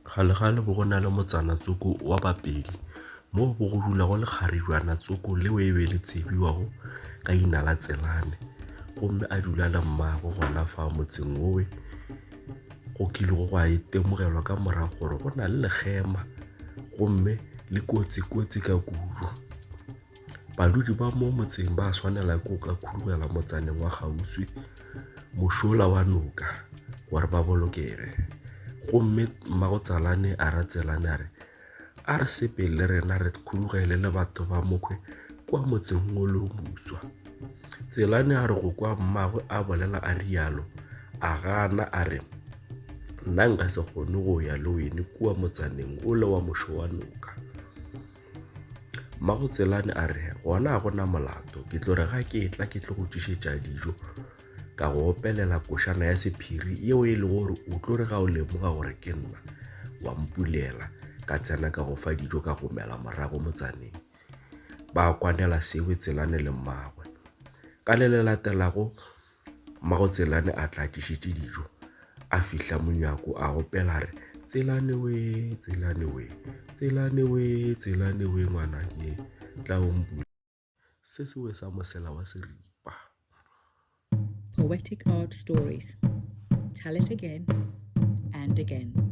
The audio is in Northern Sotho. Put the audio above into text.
Kgalekgale bo go na le motsana Tsoko wa Bapedi mo bo go dulago lekgarijwana Tsoko leo e be le tsebiwago ka ina la Tselane gomme a dula le mmago gona fa motseng owe go kilego go a itemogelwa ka morago gore go na le lekgema gomme le kotsi-kotsi ka kudu. Badudi ba mo motseng ba swanela ke go ka khurumela motsaneng wa kgauswi mošola wa noka gore ba bolokege. Gomme mmagotsalane a ra Tselane a re, A re sepele le rena re khurugele le batho ba mokhwe kwa motseng wo le buswa. Tselane a re go kwa mmagwe a bolela a rialo, a gana a re, Nna nka se kgone go ya le wene kua motsaneng ole wa mošo wa noka. Mmago Tselane a re gona ga gona molato ke tlo re ga ke tla ke tlo go tšišetša dijo ka go opelela košana ya sephiri yeo e lego gore o tlo re ga o lemoga gore ke nna wa mpulela ka tsena ka go fa dijo ka go mela morago motsaneng ba kwanela sewe Tselane le mmagwe ka le le latelago Mmago Tselane a tla tlišetše dijo a fihla monyako a gopela re Tselane we Tselane we Tselane we Tselane we ngwana ke tla o mpula se se we sa mosela wa seripa Poetic Art Stories Tell it again and again